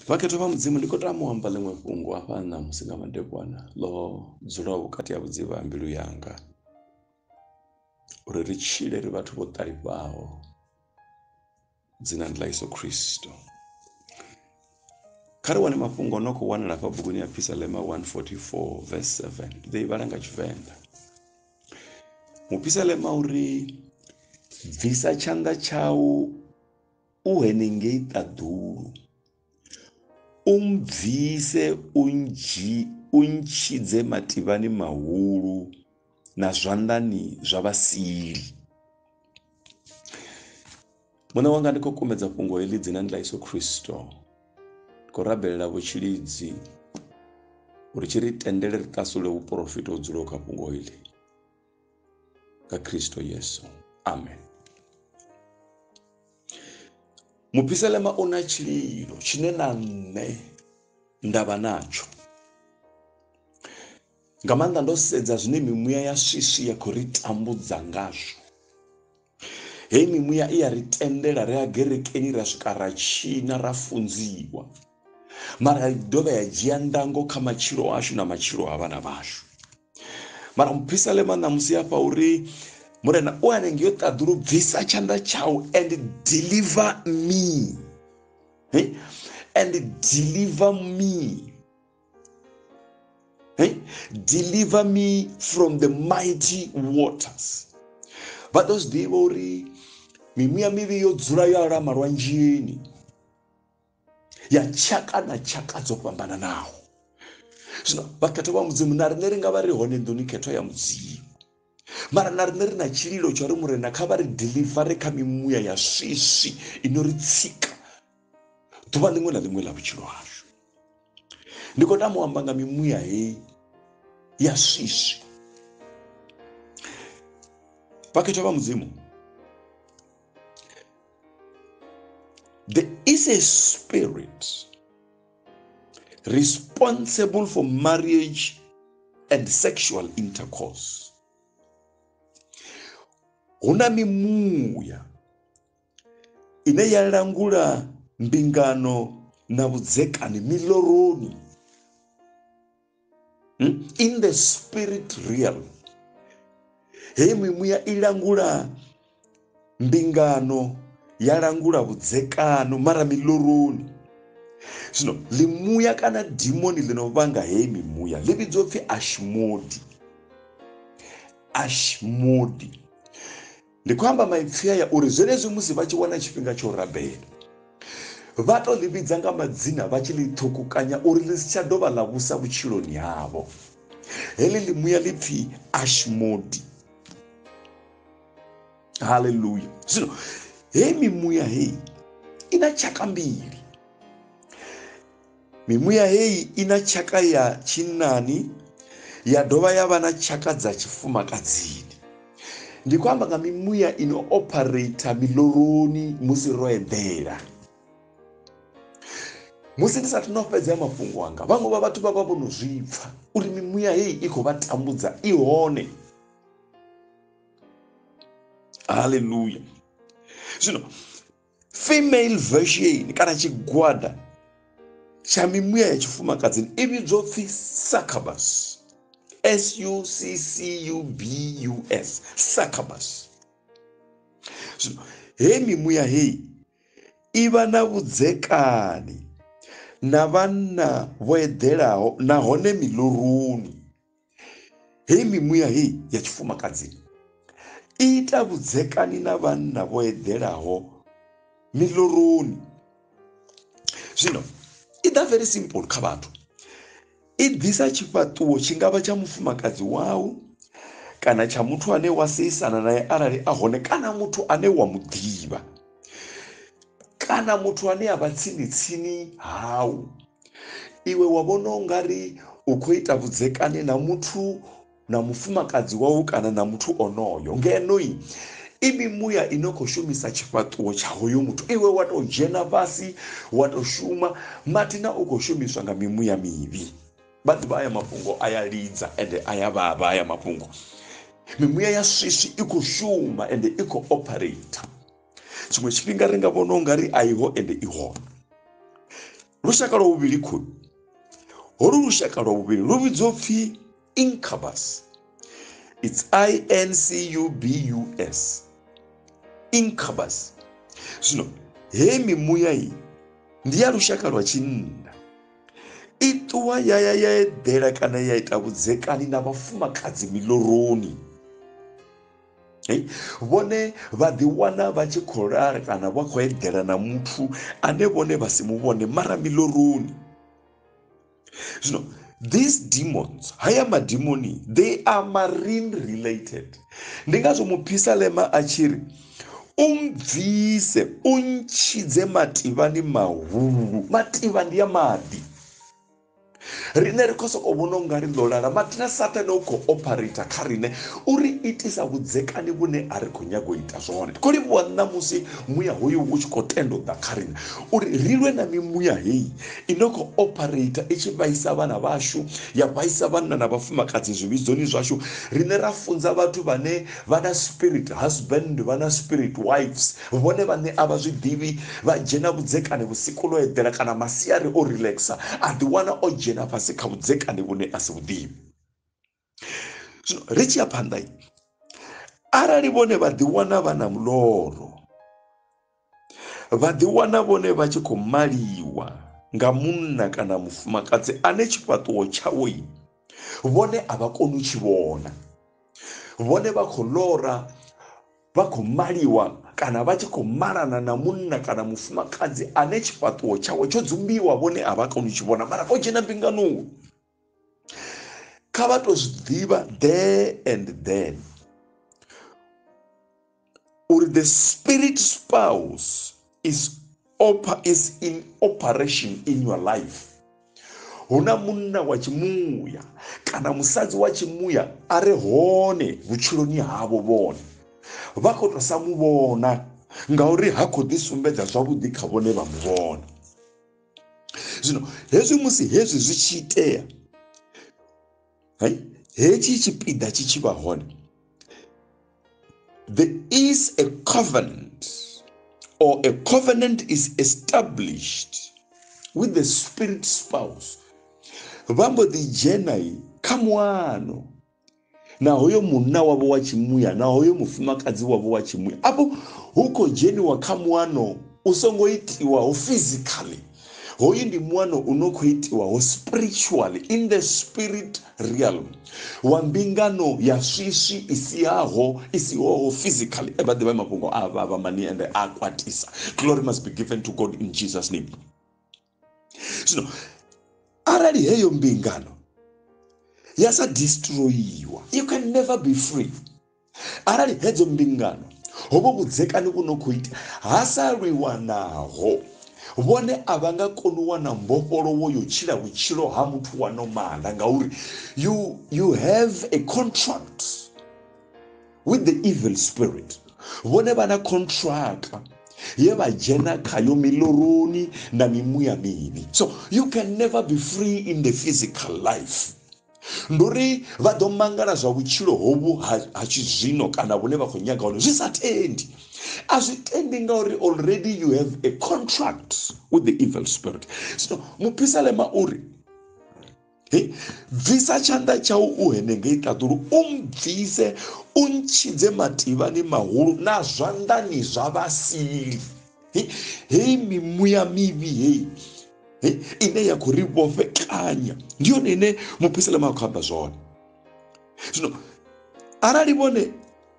Vhakhetha vha Mudzimu, ndi khou tama u amba ḽiṅwe fhungo hafha ṋamusi nga madekwana ḽo dzulaho vhukati ha vhudzivha ha mbilu yanga uri ri tshile ri vhathu vho ṱalifhaho dzinani ḽa Yesu Kristo. Kha ri wane mafhungo no khou wanala fha buguni ya Phisalema 144 verse 7 ndi ḓo i vhala nga Tshivenḓa. Muphisalema uri bvisa tshanḓa tshau u henengei ṱaḓulu, u mbvise u ndzhi u ntshidze mativhani mahulu na zwanḓani zwa vhasili. Muṋe wanga ndi khou kumedza fhungo heḽi dzinani ḽa Yesu Kristo ndi khou rabelela vhutshilidzi uri tshi ri tendele ri ṱasule vhuporofita ho dzulaho kha fhungo heḽi nga Kristo Yesu. Amen. Mupiselema u na tshililo tshine na nṋe nda vha natsho nga maanḓa ndo sedza zwine mimuya ya swiswi ya khou ri tambudza ngazwo Hei mimuya i ya ri tendela ri a gerekeni ra swika ra tshina ra funziwa mara i dovha ya dzhia ndango kha matshilo ashu na matshilo a vhana vhashu mara muphisalema ṋamusi afha uri murena u hanenge yo ṱaḓulu bvisa tshanḓa tshau and deliver me and deliver me Hey? Eh? Deliver me from the mighty waters. vha ḓo zwi ḓivha uri mimuya mivhi yo dzula yo alama lwanzhini ya tshaka na tshaka dzo fhambananaho zwino vhakhetho vha mudzimu na riṋe ri nga vha ri hone nḓuni khetho ya mudzimu mara na riṋe ri na tshililo tsha uri murena kha vha ri delivare kha mimuya ya swiswi i no ri tsika ḓuvha ḽiṅwe na ḽiṅwe ḽa vhutshilo hashu ndi khou tama u amba nga mimuya heyi ya swiswi vhakhethwa vha mudzimu there is a spirit responsible for marriage and sexual intercourse hu na mimuya ine ya langula mbingano na vhudzekani miloroni hmm? in the spirit realm heyi mimuya i langula mbingano ya langula vhudzekano mara miloroni zwino ḽimuya kana dimoni ḽi no vhanga heyi mimuya ḽi vhidzwa upfhi ashmodi ashmodi Ndi khou amba maipfi aya uri zwenezwi musi vha tshi wana tshifhinga tsha u rabela, vha tou ḽi vhidza nga madzina vha tshi ḽi ṱhukukanya uri ḽi si tsha dovha ḽa vhusa vhutshiloni havho. Heḽi ḽi muya ḽi pfi Ashmodi. Haleluya! Zwino heyi mimuya heyi i na tshaka mbili. Mimuya heyi i na tshaka ya tshinnani ya dovha ya vha na tshaka dza tshifumakadzini. Ndi khou amba nga mimuya i no ophareitha miloroni musi ro eḓela. Musi ndi sathu no fhedzea mafhungo anga, vhaṅwe vha vhathu vha vha vho no zwi pfa uri mimuya heyi i khou vha tambudza i hone. Haleluya! Zwino female version kana tshigwada tsha mimuya ya tshifumakadzini i vhidzwa upfhi succubus s u c c u b u s succubus zwino he mimuya heyi i vha na vhudzekani na vhanna vho eḓelaho nahone miḽoruni Hei mimuya hei ya tshifumakadzini i ita vhudzekani na vhanna vho eḓelaho miloroni zwino i ḓa very simple kha vhathu i ḓisa tshifhaṱuwo tshi ngavha tsha mufumakadzi wau kana tsha muthu ane wa seisana naye arali a hone kana muthu ane wa mu ḓivha kana muthu ane a vha tsini tsini hau iwe wa vhona u nga ri u khou ita vhudzekani na muthu na mufumakadzi wau kana na muthu onoyo ngenoi i mimuya i no khou shumisa tshifhaṱuwo tsha hoyo muthu iwe wa tou dzhena fhasi wa tou shuma mathina u khou shumiswa nga mimuya mivhi vha ḓivha aya mafhungo a ya lidza ende a ya vhavha aya mafhungo mimuya ya swiswi i khou shuma ende i khou operator tshiṅwe tshifhinga ri nga vhona u nga ri a iho ende i hone lushaka lwa vhuvhili khulu holu lushaka lwa vhuvhili lu vhidzwa upfhi incubus its incubus incubus zwino hei mimuya iyi ndi ya lushaka lwa tshinna i ṱuwa ya ya ya eḓela kana ya ita vhudzekani na vhafumakadzi miloroni vhone vha ḓiwana vha tshi khou lala kana vha khou eḓela na muthu ane vhone vha si mu vhone mara miloroni zwino these demons haya madimoni they are marine related ndi ngazwo muphisalema a tshi ri u mbvise u ntshidze mativhani mahulu mativha ndi ya maḓi riṋe ri khou sokou vhona unga ri ḓo lala mathina sathane u khou operator kha riṋe uri itisa vhudzekani vhune a ri khou nyaga u ita zwone ndi khou livhuwa ṋamusi muya hoyu u tshi khou tenda u ḓa kha riṋe uri ri lwe na mimuya heyi i no khou operator i tshi vhaisa vhana vhashu ya vhaisa vhanna na vhafumakadzi zwivhidzoni zwashu riṋe ra funza vhathu vhane Vha na spirit husband, vha na spirit wives, vhone vhaṋe a vha zwi ḓivhi. Vha dzhena vhudzekani vhusiku ḽo eḓela kana masiari o relaxer, a ḓiwana o dzhena fhasi kha vhudzekani vhune a si vhu ḓivhi. Zwino ri tshi ya phanḓa, arali vhone vha ḓiwana vha na muloro, vha ḓiwana vhone vha tshi khou maliwa nga munna kana mufumakadzi ane tshifhaṱuwo tshawe vhone a vha koni u tshi vhona vhone vha khou lora vha khou maliwa kana vha tshi khou malana na munna kana mufumakadzi ane tshifhaṱuwo tshawe tsho dzumbiwa vhone a vha koni u tshi vhona mara o dzhena mbinganoni kha vha to zwi ḓivha there and then uri the spirit spouse is oper is in operation in your life hu na munna wa tshimuya kana musadzi wa tshimuya a re hone vhutshiloni havho vhone vha khou tou sa mu vhona ngauri ha khou ḓi sumbedza zwavhuḓi kha vhone vha mu vhona zwino hezwi musi hezwi zwi tshi itea hai hetshi tshipiḓa tshi tshi vha hone there is a covenant or a covenant is established with the spirit spouse vha mbo ḓi dzhena kha muano na hoyo munna wavho wa tshimuya na hoyo mufumakadzi wavho wa tshimuya afho hu khou dzheniwa kha muano u songo itiwaho physically hoyu ndi muano u no khou itiwaho spiritually in the spirit realm wa mbingano ya swiswi i siaho i sihoho physically e vha ḓivha mafhungo a vha vha mani ende a kwatisa glory must be given to god in jesus name zwino arali heyo mbingano ya sa destroyiwa you can never be free arali hedzo mbingano ho vho vhudzekani vhu no khou ita ha sa lwiwa naho vhone a vha nga koni u wana mbofholowo yo tshila vhutshilo ha muthu wa nomala ngauri you, you have a contract with the evil spirit vhone vha na contractor ye vha dzhena khayo miloroni na mimuya mivhi so you can never be free in the physical life ndi uri vha ḓo mangala zwa vhutshilo hovhu ha ha tshizwino kana vhune vha khou nyaga hone zwi sa tendi a zwi tendi ngauri already you have a contract with the evil spirit so muphisalema uri He, bvisa tshanḓa tshau u henengei ṱaḓulu u mbvise u ntshidze mativhani mahulu na zwanḓani zwa vhasili heyi mimuya mivhi heyi ine ya khou ri vhofhekanya ndi yone ine mupisalema a khou amba zwone zwino arali vhone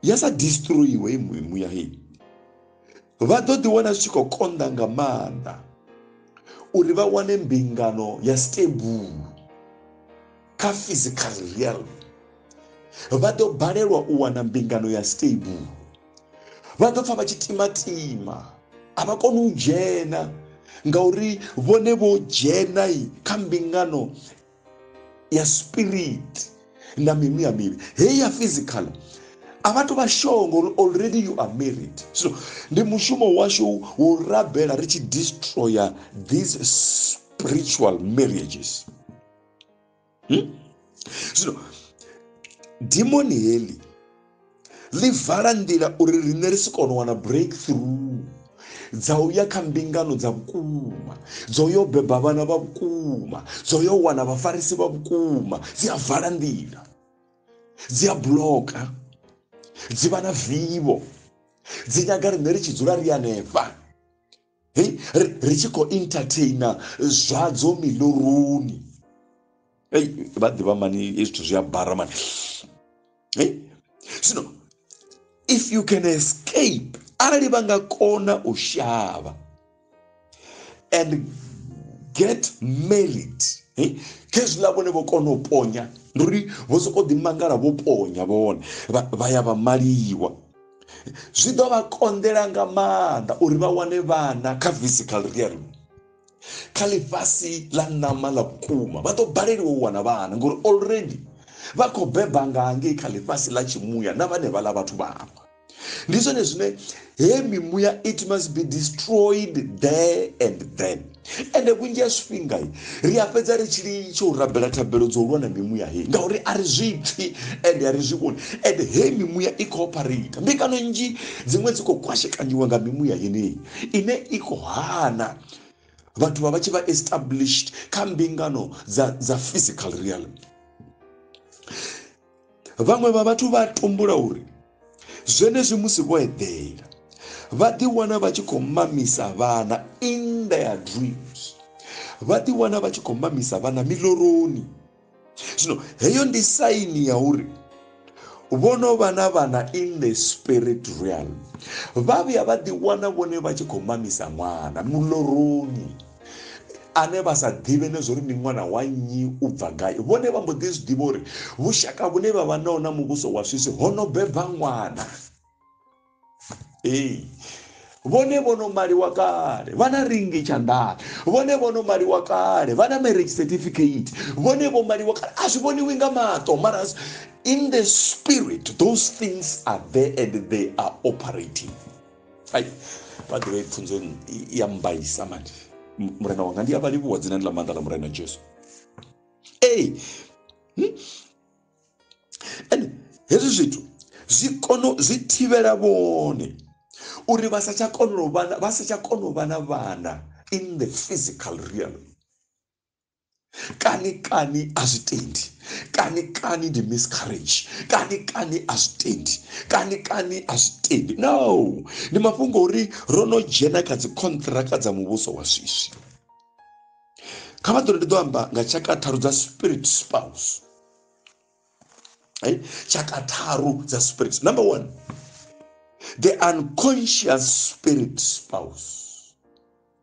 ya sa destroyiwe i mimuya heyi vha ḓo ḓi wana zwi tshi khou konḓa nga maanḓa uri vha wane mbingano ya stable kha physical realm vha ḓo balelwa u wana mbingano ya stable vha ḓo pfa vha tshi timatima a vha koni u dzhena ngauri vhone vho dzhena kha mbingano ya spirit na mimi ya mivhi heyi ya physical a vha to vha sure ngori already you are married so ndi mushumo washu wo rabela ri tshi destroyer these spiritual marriages hmm? so dimoni heḽi ḽi vala nḓila uri riṋe ri si kone u wana breakthrough dza u ya kha mbingano dza vhukuma dzo yo beba vhana vha vhukuma dzo yo wana vhafarisi vha vhukuma dzi a vala nḓila dzi a bloka dzi vha na vivho dzi nyaga riṋe ri tshi dzula ri hanefha hei ri tshi khou entertaina zwadzo miloroni ei vha ḓivha mani hezwi zwithu zwi a bara mani hei zwino if you can escape arali vha nga kona u shavha and get married hey? khezwiḽa vhone vho kona u ponya ndi uri vho sokou ḓimangala vho ponya vhone vha ya vha maliwa zwi ḓo vha konḓela nga maanḓa uri vha wane vhana kha physical realm kha ḽifhasi ḽa ṋama ḽa vhukuma vha ḓo baleliwa u wana vhana ngori already vha khou beba nga hangei kha ḽifhasi ḽa tshimuya na vhane vhaḽa vhathu vhaṅwe ndi zwone zwine he mimuya it must be destroyed there and then ende vhunzhi ha zwifhinga ri a fhedza ri tshi litsha u rabela thabelo dzo lwa na mimuya heyi ngauri a ri zwi pfhi ende a ri zwi vhoni ende heyi mimuya i khou opharita mbingano nnzhi dziṅwe dzi khou kwashekanyiwa nga mimuya yeneyi ine i khou hana vhathu vha vha tshi vha established kha mbingano dza dza physical realm Vhaṅwe vha vhathu vha tumbula uri zwenezwi musi vho eḓela vha ḓiwana vha tshi khou mamisa vhana in their dreams vha ḓiwana vha tshi khou mamisa vhana miloroni zwino heyo ndi saini ya uri vho no vha na vhana in the spirit realm vha vhuya vha ḓiwana vhone vha tshi khou mamisa ṅwana muloroni ane vha sa ḓivhe ne zwo ri ndi ṅwana wa nnyi u bva gai vhone vha mbo ḓi zwi ḓivha uri vhushaka vhune vha vha nao na muvhuso wa swisi ho no beba ṅwana ee vhone vho no maliwa kale vha na ringi tshanḓani vhone vho no maliwa kale vha na marriage certificate vhone vho maliwa kale a zwi vhoniwi nga maṱo mara in the spirit those things are there and they are operating ai vhaḓivha i pfunzo ya mbaisa manje murena wanga ndi a vha livhuwa dzinani ḽa maanḓa ḽa murena jesu ee hmm? and hezwi zwithu zwi kono zwi thivhela vhone uri vha sa tsha kona u vha vha sa tsha kona u vha na vhana in the physical realm kani kani a zwi tendi kani kani ndi miscarriage kani kani a zwi tendi kani kani a zwi tendi no ndi mafhungo uri ro no dzhena kha dzi contract dza muvhuso wa swiswi kha vha ḓo ndi ḓo amba nga tshaka tharu dza spirit spouse eh? tshaka tharu dza spirit number one the unconscious spirit spouse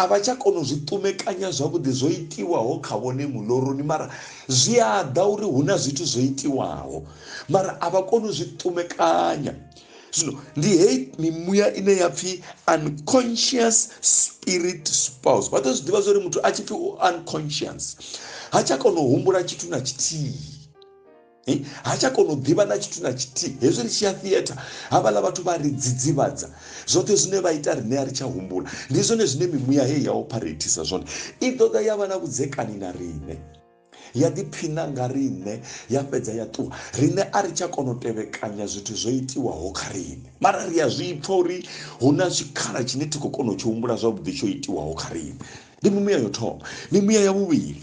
A vha tsha kona u zwi ṱumekanya zwavhuḓi zwo itiwaho kha vhone muloroni mara zwi a ḓa uri hu na zwithu zwo itiwaho mara a vha koni u zwi ṱumekanya zwino ndi heyi mimuya ine ya pfhi unconscious spirit spouse vha ḓo zwi ḓivha zwori muthu a tshi pfhi u unconscious ha tsha kona u humbula tshithu na tshithihi ha tsha kona u ḓivha na tshithu na tshithihi hezwi ri tshi ya theatre havhaḽa vhathu vha ri dzidzivhadza zwoṱhe zwine vha ita riṋe a ri tsha humbula ndi zwone zwine mimuya heyi ya opharethisa zwone i ṱoḓa ya vha na vhudzekani na riṋe ya ḓiphina nga riṋe ya fhedza ya ṱuwa riṋe a ri tsha kona u tevhekanya zwithu zwo itiwaho kha riṋe mara ri a zwi pfha uri hu na tshikhala tshine thi khou kona u tshi humbula zwavhuḓi tsho itiwaho kha riṋe ndi mimuya yo thoma mimuya ya vhuvhili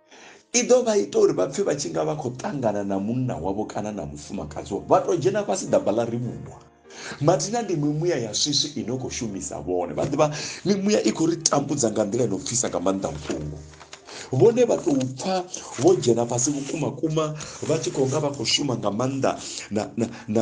i ḓo vha ita uri vha pfhe vha tshi nga vha khou ṱangana na munna wavho kana na mufumakadzi wavho vha tou dzhena fhasi ḓamba ḽa rivhuwa mathina ndi mimuya ya swiswi i no khou shumisa vhone vha ḓivha mimuya i khou ri tambudza nga nḓila ino pfisa nga maanḓa vhuṱungu vhone vha tou pfha vho dzhena fhasi vhukuma kuma vha tshi khou nga vha khou shuma nga maanḓa na, na, na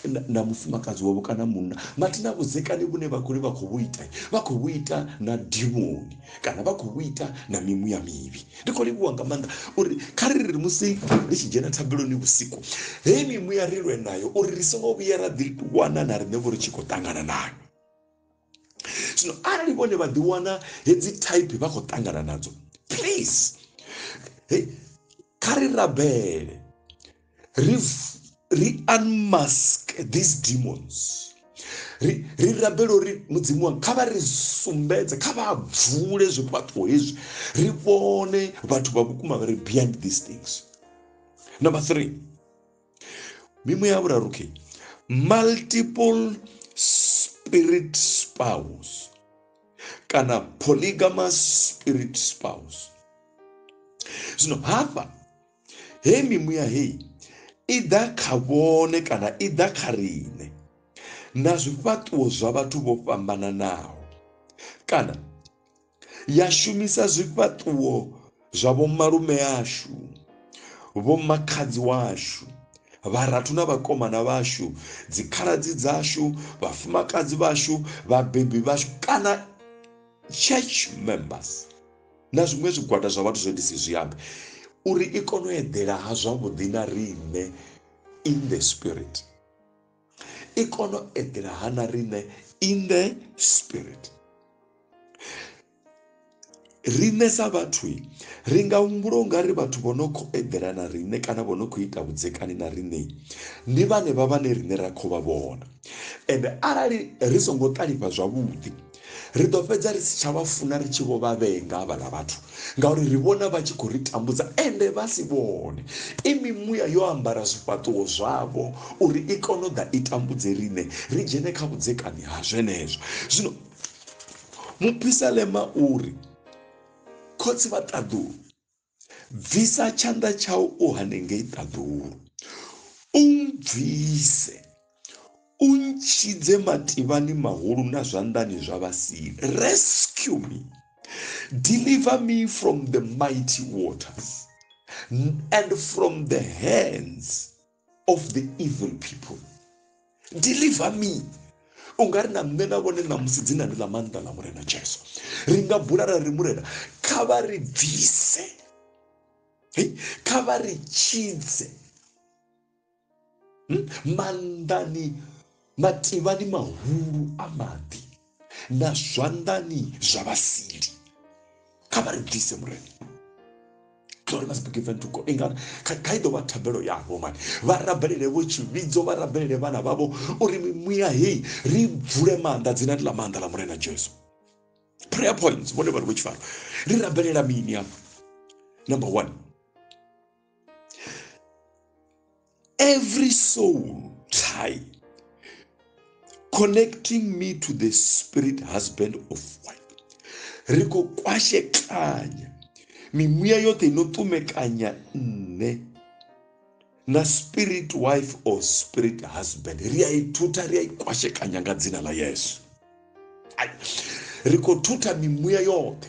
na, na mufumakadzi wavho kana munna vhati na vhudzekani vhune vha khou ri vha khou vhu ita vha khou vhu ita na dimoni kana vha khou vhu ita na mimuya mivhi ndi khou livhuwa nga maanḓa uri kha ri ri musi ri tshi dzhena thabeloni vhusiku heyi mimuya ri lwe nayo uri ri songo vhuya ra ḓi wana na riṋe vho ri tshi khou ṱangana nayo zwino arali vhone vha ḓiwana hedzi type vha khou ṱangana nadzo please hey, kha ri rabele ri ri unmask these demons ri ri rabela uri mudzimu wanga kha vha ri sumbedze kha vha bvule zwifhaṱo hezwi ri vhone vhathu vha vhukuma vha ri beyond these things number three mimuya ya vhuraru ke multiple spirit spouse kana polygamous spirit spouse zwino hafha hei mimuya hei i ḓa kha vhone kana i ḓa kha riṋe na zwifhaṱuwo zwa vhathu vho fhambananaho kana ya shumisa zwifhaṱuwo zwa vhomalume ashu vhomakhadzi washu vharathu na vhakomana vhashu dzikhaladzi dzashu vhafumakadzi vhashu vhabebi vhashu kana church members na zwiṅwe zwigwada zwa vhathu zwe ndi si zwi ambe uri i kone u eḓela ha zwavhuḓi na riṋe in the spirit i kone u eḓela ha na riṋe in the spirit riṋe sa vhathu ri nga humbula u nga ri vhathu vho no khou eḓela na riṋe kana vho no khou ita vhudzekani na riṋe ndi vhanevha vhane riṋe ra khou vha vhona ende arali ri songo ṱalifha zwavhuḓi Ri ḓo fhedza ri si tsha vha funa ri tshi vho vha vhenga havhaḽa vhathu ngauri ri vhona vha tshi khou ri tambudza ende vha si vhone. I mimuya yo ambara zwifhaṱuwo zwavho uri i kone u ḓa i tambudze riṋe ri dzhene kha vhudzekani ha zwenezwo. Zwino mupisalema u ri, Khotsi vha ṱaḓulu. bvisa tshanḓa tshau u hanengei ṱaḓulu u bvise u ntshidze mativhani mahulu na zwanḓani zwa vhasili rescue me deliver me from the mighty waters and from the hands of the evil people deliver me u nga ri na nṋe na vhone ṋamusi dzinani ḽa maanḓa ḽa murena jesu ri nga bula ra ri murena kha vha ri bvise kha vha ri tshidze hmm? maanḓani Mativhani mahulu a maḓi na zwanḓani zwa vhasili. Kha vha ri bvise, Murena. Glory must be given to God. Inga kha i ḓo vha thabelo yavho mani. Vha rabelele vho tshivhidzo, vha rabelele vhana vhavho uri mimuya heyi ri bvule maanḓa dzina ḽa maanḓa ḽa Murena Jesu. Prayer points vhone vha ri vho tshifaro. Ri rabelela mini hafha? Number 1. Every soul tie connecting me to the spirit husband of wife ri khou kwashekanya mimuya yoṱhe ino ṱumekanya nṋe na spirit wife or spirit husband ri a i thutha ri a i kwashekanya nga dzina ḽa yesu ri khou thutha mimuya yoṱhe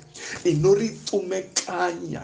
ino ri ṱumekanya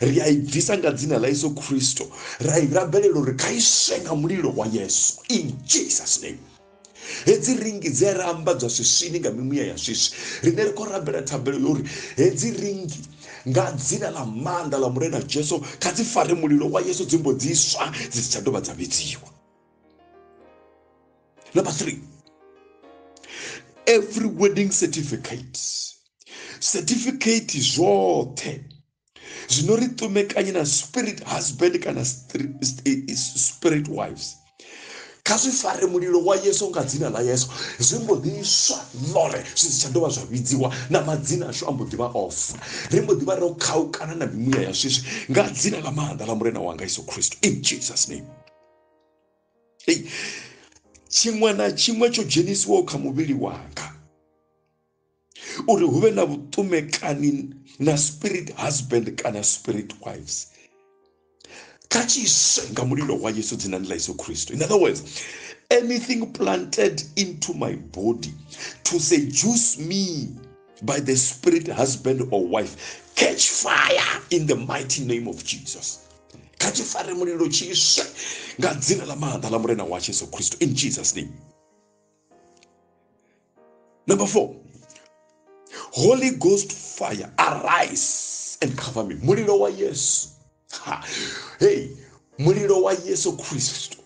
ri a i bvisa nga dzina ḽa yesu khristo ra i rabelela uri kha iswe nga mulilo wa yesu in jesus name hedzi ringi dzi a ri ambadzwa swiswini nga mimuya ya swiswi rine ri khou rabela thabelo yo uri hedzi ringi nga dzina ḽa maanḓa ḽa murena jesu kha dzi fare mulilo wa yesu dzimbo dzi swa dzi si tsha dovha dza vhidziwa number three every wedding certificate certificate zvoṱhe zwino ri ṱumekanye na spirit husband kana spirit wives kha zwi fare mulilo wa yesu nga dzina ḽa yesu zwi mbo ḓi swa ḽore zwi si tsha dovha zwa vhidziwa na madzina ashu a mbo ḓi vha ofa ri mbo ḓi vha ro khaukana na mimuya ya swiswi nga dzina ḽa maanḓa ḽa murena wanga yesu kristo in jesus name tshiṅwe na tshiṅwe tsho dzhenisiwaho kha muvhili wanga uri hu vhe na vhuṱumekani na spirit husband kana spirit wives kha tshiswe nga mulilo wa yesu dzinani ḽa yesu kristu in other words anything planted into my body to seduce me by the spirit husband or wife catch fire in the mighty name of jesus kha tshi fare mulilo tshiswe nga dzina ḽa maanḓa ḽa murena wa yesu kristu in jesus name Number four, Holy Ghost fire, arise and cover me. Mulilo wa Yesu. Ha. Hey, mulilo wa Yesu Kristo.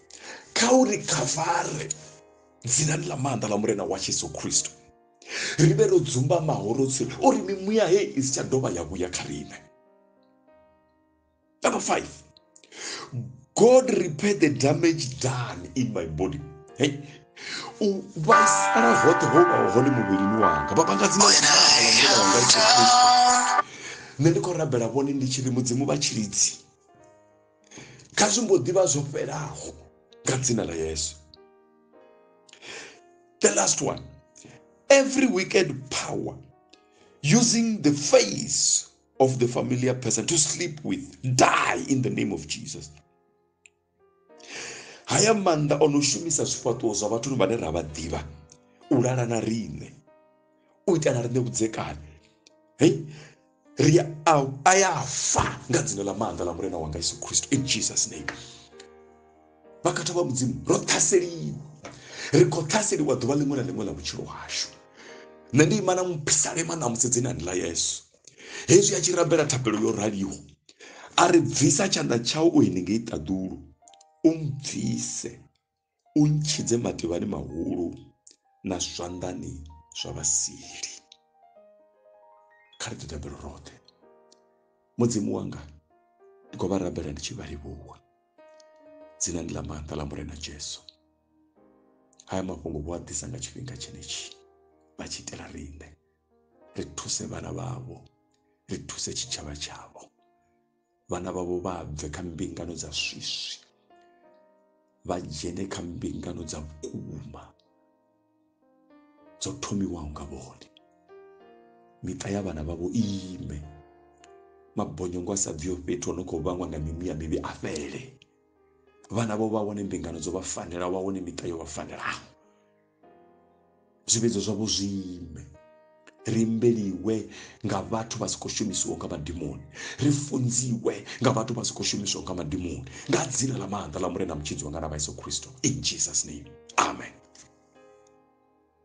Kha u ri khavare dzinani ḽa maanḓa ḽa murena wa Yesu Kristo. Ri vhe ro dzumbamaho ro tsire uri mimuya hei i si tsha dovha ya vhuya kha riṋe. Number five, God repair the damage done in my body. Hey, u vhaisala hoṱhe ho vhaho hone muvhilini wanga vha vhanga dzina wanga Yesu Kristo nṋe ndi khou rabela vhone ndi tshi ri mudzimu vha tshilidzi kha zwi mbo ḓivha zwo fhelaho nga dzina ḽa yesu the last one every wicked power using the face of the familiar person to sleep with die in the name of jesus haya maanḓa o no shumisa zwifhaṱuwo zwa vhathu vhane ra vha ḓivha u lala na riṋe u ita na riṋe vhudzekani hei ri a ya fa nga dzina ḽa maanḓa ḽa murena wanga yesu kristo in jesus name vhakhathwa vha mudzimu ro ṱhaseliwa ri khou ṱhaseliwa ḓuvha ḽiṅwe na ḽiṅwe ḽa vhutshilo hashu nṋe ndi ima na muphisalema ṋamusi dzinani ḽa yesu hezwi a tshi rabela thapelo yo raliho a ri bvisa tshanḓa tshau u henengei ṱaḓulu u mbvise u ntshidze mativhani mahulu na zwanḓani zwa vhasili kha ri ḓitabelo roṱhe mudzimu wanga ndi khou vha rabela ndi tshi vha livhuwa dzinani ḽa maanḓa ḽa murena jesu haya mafhungo vho a ḓisa nga tshifhinga tshenetshi vha tshi itela riṋe ri thuse vhana vhavho ri thuse tshitshavha tshavho vhana vhavho vha bve kha mbingano dza swiswi vha dzhene kha mbingano dza vhukuma dzo thomiwaho nga vhone miṱa ya vhana vhavho ime mabonyongo a sa bviho fhethu ono khou vhangwa nga mimuya mivhi a fhele vhana vho vha wane mbingano dzo vha fanela vha wane miṱa yo vha fanelaho zwivhidzo zwavho zwi ime ri mbeliwe nga vhathu vha si khou shumisiwa nga madimoni ri funziwe nga vhathu vha si khou shumiswa nga madimoni nga dzina ḽa maanḓa ḽa murena mutshidzi wanga na vha yesu khristo in jesus name amen